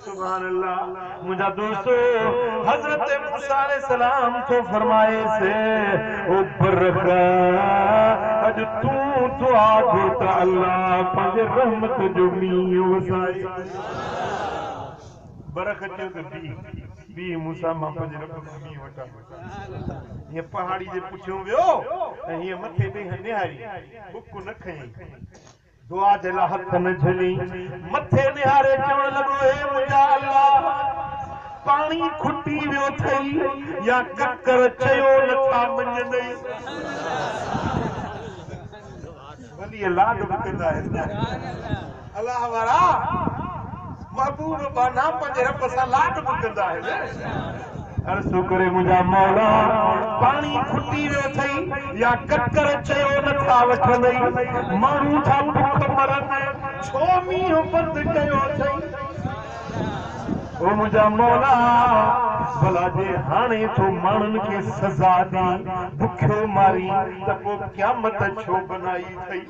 سبحان الله منهنجا دوستو حضرت موسيٰ عليه السلام ٿو فرمائيس او برخ اڄ تون دعا گهر ته الله پنهنجي رحمت جو مينهن وسائي برخ چيو ته بيهه بيهه موسيٰ مان پنهنجي رب کان مينهن وٺان هيء پهاڙي جي پٺيون ويو ۽ هيء مٿي ڏينهن نهاري بک نه کنيئي. دعا جي لاء هٿ ۾ جهلي مٿي نهاري چوڻ لڳو اي منهنجا الله! پاڻي کٽي ويو ٿئي يا ڪڪر چيو نٿا مڃيندئي. ڀلي لاڏ به ڪندا آهن نه الله وارا. محبوب ٻانها پنهنجي رب سان لاڏ به ڪندا آهن. عرض ڪري منهنجا مولا پاڻي کٽي ويو اٿئي يا ڪڪر چيو نه ٿا وٺندئي، ماڻهو ٿا بک مرن، ڇو مينهن بند ڪيو اٿئي. او منهنجا مولا ڀلا جي هاڻي تو ماڻهن کي سزا ڏئين، بکيو مارين ته پوء قيامت ڇو بنائي اٿئي.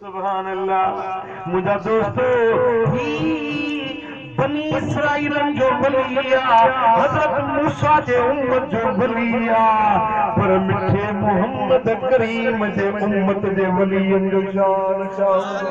سبحان الله منهنجا دوستو هي بني اسرائيلن جو ولي آ حضرت موسيٰ جي امت جو ولي آ پر مٺي محمد ڪريم جي امت جي ولين جو شان ڇا هوندو.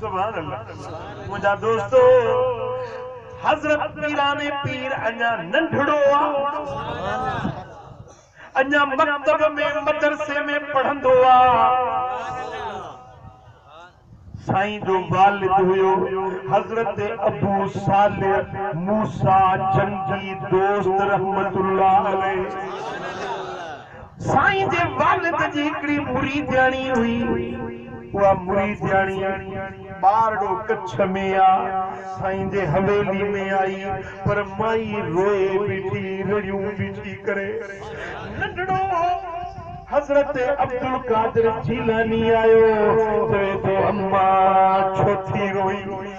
سبحان الله منهنجا دوستو حضرت پيراڻي پير اڃا ننڍڙو آ اڃا مڪتب ۾ مدرسي ۾ پڙهندو آ سائين جو والد هيو حضرت ابو صالح موسيٰ جنگي دوست رحمة الله عليه سائين جي والد جي هڪڙي مريدياڻي هئي، اها مريدياڻي ٻارڙو ڪڇ ۾ آ، سائين جي حويلي ۾ آئي، پر مائي روئي بيٺي، رڙيون بيٺي ڪري. ننڍڙو هو، حضرت عبدالقادر جيلاني آيو، چوي ٿو، اما ڇو ٿي روئين؟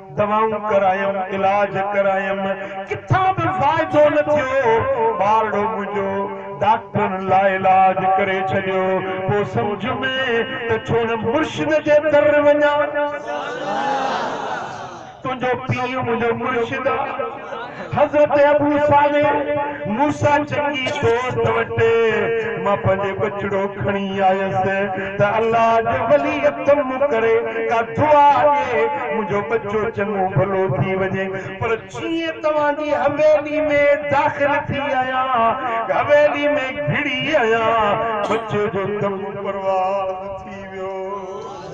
دوائون ڪرايم، علاج ڪرايم، ڪٿان به فائدو نه ٿيو. ٻارڙو منهنجو ڊاڪٽرن لاعلاج ڪري ڇڏيو. پوء سمجهه ۾ ته ڇو نه مرشد جي در وڃان. تنهنجو پيء منهنجو مرشد آ. حضرت ابو صالح، موسيٰ جنگي دوست وٽ مان پنهنجي ٻچڙو کڻي آيس ته الله جي ولي تون مون ڪري ڪا دعا ڏي منهنجو ٻچو چڱو ڀلو ٿي وڃي پر جيئن توهان جي حويلي ۾ داخل ٿي آهيان حويلي ۾ گهڙي آهيان ٻچي جو تمون برباد ٿي ويو.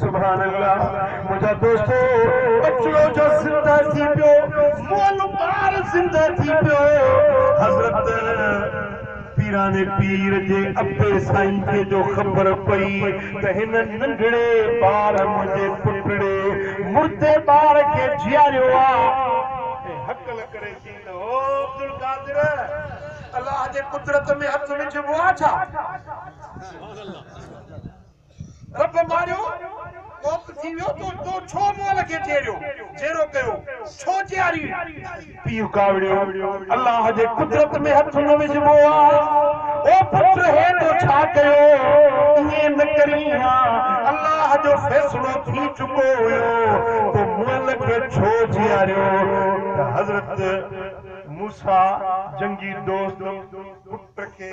سبحان الله منهنجا دوستو ٻچڙو جو زنده ٿي پيو مئل ٻار زنده ٿي پيو حضرت پيران پير جي ابي سائين جي جو خبر پئي ته هن ننڍڙي ٻار منهنجي پٽڙي مردي ٻار کي جياريو آ ۽ هڪل ڪري چئي ته او عبدالقادر الله جي قدرت ۾ هٿ وجهبو آ ڇا؟ رب ماريو وقت ٿي ويو تو تو ڇو مول کي ٽيڙيو جيرو ڪيو ڇو جياري پيء ڪاوڙيو الله جي قدرت ۾ هٿ نه وجهبو آ او پٽ هي تو ڇا ڪيو ائين نه ڪرين ها الله جو فيصلو ٿي چڪو هيو تو مول کي ڇو جياريو ته حضرت موسيٰ جنگي دوست پٽ کي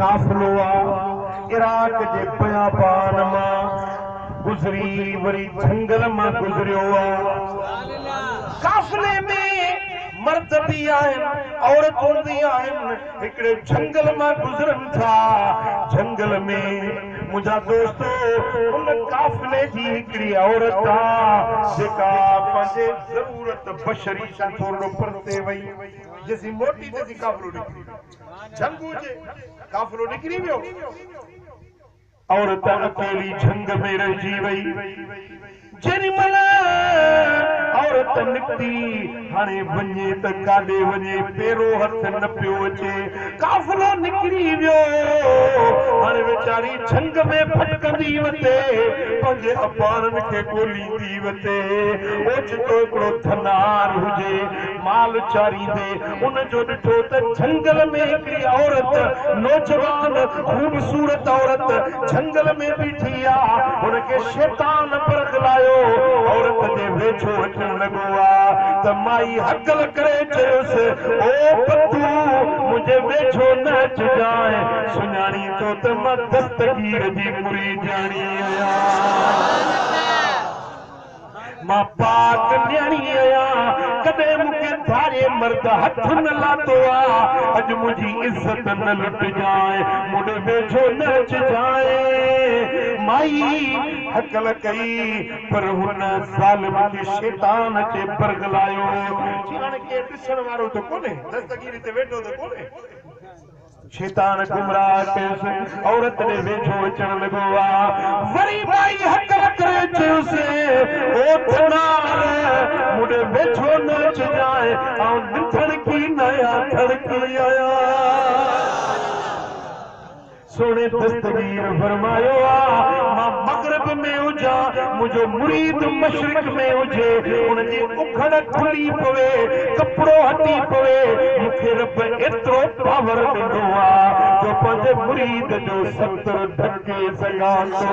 قافلو آ عراق جي بيابان مان گذري وري جهنگل مان گذريو آ قافلي ۾ مرد به آهن عورتون به آهن هڪڙي جهنگل مان گذرن ٿا جهنگل ۾ منهنجا دوستو ان قافلي جي هڪڙي عورت آ جيڪا پنهنجي ضرورت بشري کان ٿورڙو پرتي وئي جيسين موٽي تيسين قافلو نڪري ويو. جهنگو جي قافلو نڪري ويو. عورت اڪيلي جهنگ ۾ رهجي وئي. جيڏي مهل عورت نڪتي، هاڻي وڃي ته ڪاڏي وڃي، پيرو هٿ نه پيو اچي. قافلو نڪري ويو. هاڻي ويچاري جهنگ ۾ ڀٽڪندي وتي پنهنجي اباڻن کي ڳوليندي وتي. اوچتو هڪڙو ڌنار هجي، مال چاريندي ان جو ڏٺو ته جهنگل ۾ هڪڙي عورت، نوجوان، خوبصورت عورت، جهنگل ۾ بيٺي آ. هن کي شيطان برغلايو. عورت جي ويجهو اچڻ لڳو آ ته مائي هڪل ڪري چيس، او پتو! منهنجي ويجهو نه اچجانء. سڃاڻي ٿو ته مان دستگير جي مريدياڻي آهيان. مان پاڪ نياڻي آهيان، ڪڏهن مون کي ڌاري مرد هٿ نه لاتو آ، اڄ منهنجي عزت نه لٽجانء، مون ڏي ويجهو نه اچجانء. مائي هڪل ڪئي، پر هن ظالم کي شيطان اچي برغلايو. چيائين، هاڻ ڪير ڏسڻ وارو ته ڪونهي، دستگيري تي ويٺو ته ڪونهي. شيطان گمراهه ڪيس، عورت ڏي ويجهو اچڻ لڳو آ، وري ٻائي هڪ وڪري چيس، او ڌنار! مون ڏي ويجهو نه اچجانء، آئون ننڌڻڪي ناهيان، ڌڻڪي آهيان. سهڻي دستگير! مون فرمايو آ مان مغرب ۾ هجان منهنجو مريد مشرق ۾ هجي ان جي اکڙ کلي پوي ڪپڙو هٽي پوي مون کي رب ايترو پاور ڏنو آ جو پنهنجي مريد جو ستر ڍڪي سگهان ٿو.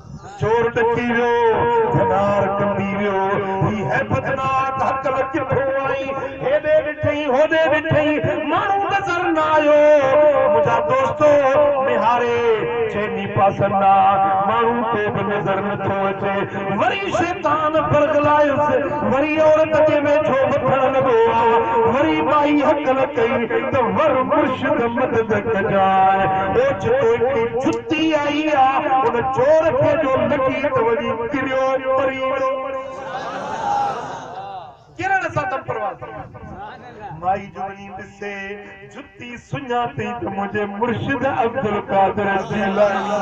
چور ڏڪي ويو، ڌنار ڪنبي ويو، هي هيبتناڪ هڪل ڪٿو آئين؟ هيڏي ڏٺئين، هوڏي ڏٺئين، ماڻهو نظر نه آيو. منهنجا دوستو! نهاري، چئني پاسن ڏانهن ماڻهو ڪو به نظر نه ٿو اچي. وري شيطان برغلايس، وري عورت جي ويجهو وڌڻ لڳو آ، وري ٻائي هڪل ڪئي ته ور مرشد مدد ڪجانء، اوچتو هڪڙي جتي تي آئي آ، ان چور کي جو لڳي ته وڃي ڪريو پري ويو. ڪرڻ سان دم پرواز ٿي ويو. مائي جو وڃي ڏسي جتي سڃاتئين ته منهنجي مرشد عبدالقادر جيلاني.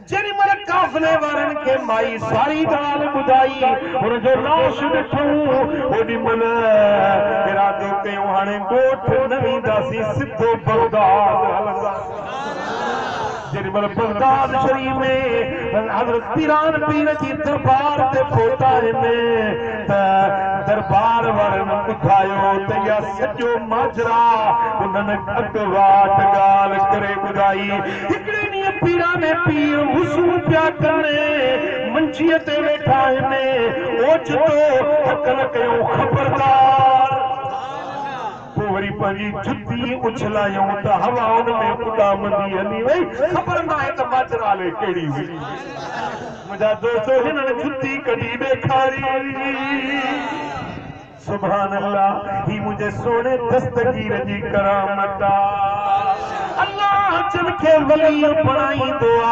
جيڏيمھل قافلي وارن کي مائي ساري ڳالھه ٻڌائي، ھن جو لاش ڏٺئون، اوڏيمھل ارادو ڪيو ھاڻي ڳوٺ نه وينداسين سڌو بغداد ھلنداسين. جيڏيمھل بغداد شريف ۾ حضرت پيران پير جي دربار تي پھتائين ته دربار وارن ٻڌايو ته اھا سڄو ماجرا انھن اڳواٽ ڳالھه ڪري ٻڌائي، هڪڙي ڏينهن پيراڻي پيء وضو پيا ڪن، منجيء تي ويٺا آهن، اوچتو هڪن ڪيو خبردار! پوء وري پنهنجي جتي اڇلايائون ته هوا ان ۾ اڏامندي هلي وئي، خبر ناهي ته ماجرا الئي ڪهڙي هئي. منهنجا دوستو هنن جتي ڪڍي ڏيکاري. سبحان الله هي منهنجي سهڻي دستگير جي ڪرامت آ الله جن کي ولي بڻائيندو آ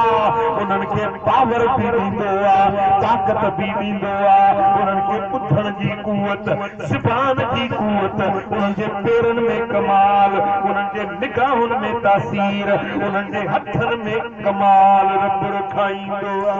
انهن کي پاور به ڏيندو آ طاقت به ڏيندو آ انهن کي ٻڌڻ جي قوت زبان جي قوت انهن جي پيرن ۾ ڪمال انهن جي نگاهن ۾ تاثير انهن جي هٿن ۾ ڪمال رب رکائيندو آ.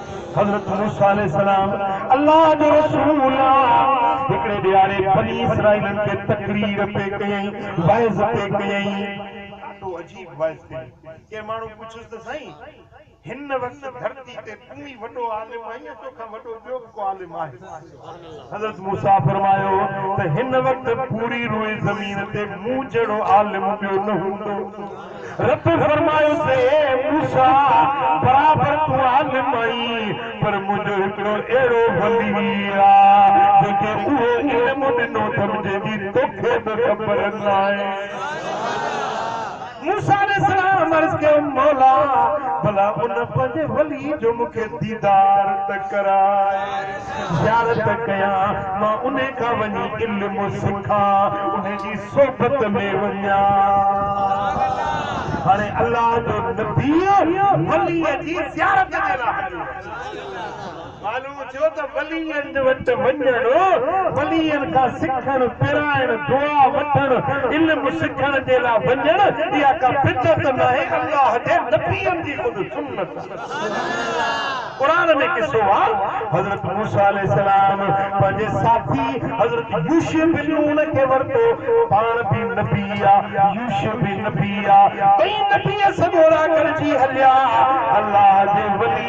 حضرت موسيٰ عليه السلام الله جو رسول آ. هڪڙي ڏيهاڙي بني اسرائيلن کي تقرير پئي ڪيائين، وعظ پئي ڪيائين. ڏاڍو عجيب وعظ ڪيائين. ڪنهن ماڻهو پڇيس ته سائين! هن وقت ڌرتي تي تون ئي وڏو عالم آهين يا توکان وڏو ٻيو به ڪو عالم آهي؟ حضرت موسيٰ فرمايو ته هن وقت پوري روئي زمين تي مون جهڙو عالم ٻيو نه هوندو. رب فرمايس اي موسيٰ! برابر تون عالم آهين پر منهنجو هڪڙو اهڙو ولي آ جنهنکي اهو علم ڏنو اٿم جنهنجي توکي به خبر ناهي. موسيٰ عليه السلام عرض ڪيو، مولا! ڀلا ان پنهنجي ولي جو مون کي ديدار ته ڪراء، زيارت ڪيان، مان انهي کان وڃي علم سکان، انهي جي صحبت ۾ وڃان. هاڻي الله جو نبي ولي جي زيارت جي لاء هليو ويو. ڪالو چيو ته وليين جي وٽ وڃڻ، وليين کان سکڻ، پرائڻ، دعا وٺڻ، علم سکڻ جي لاء وڃڻ اها ڪا بدعت ناهي، الله جي نبين جي خود سنت آهي. قرآن ۾ قصو آ، حضرت موسيٰ عليه السلام پنهنجي ساٿي حضرت يوشع بن نون کي ورتو، پاڻ به نبي آ، يوشع به نبي آ، ٻئي نبي سڳورا گڏجي هليا، الله جي ولي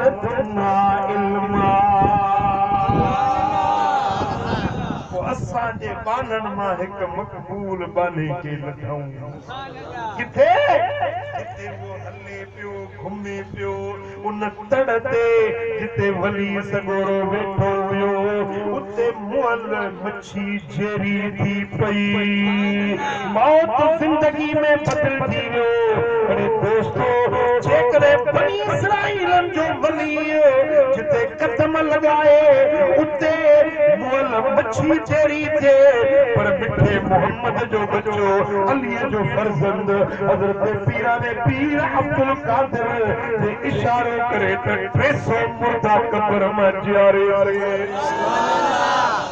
ڏنا علم آ پوء اسان جي ٻانهن مان هڪ مقبول ٻانهي کي لڌئون ڪٿي جتي اهو هلي پيو گهمي پيو ان تڙ تي جتي ولي سڳورو ويٺو هيو اتي مئل اڇي جيري ٿي پئي، موت زندگي ۾ بدلجي ويو. اڙي دوستو! جيڪڏهن بني اسرائيلن جو ولي جتي قدم لڳائي، اتي مئل مڇي جيري ٿئي، پر مٺي محمد جو ٻچو، عليء جو فرزند، حضرت پيران پير عبدالقادر جي اشارو ڪري ته ٽي سؤ مردا قبر مان جياري ٿئي.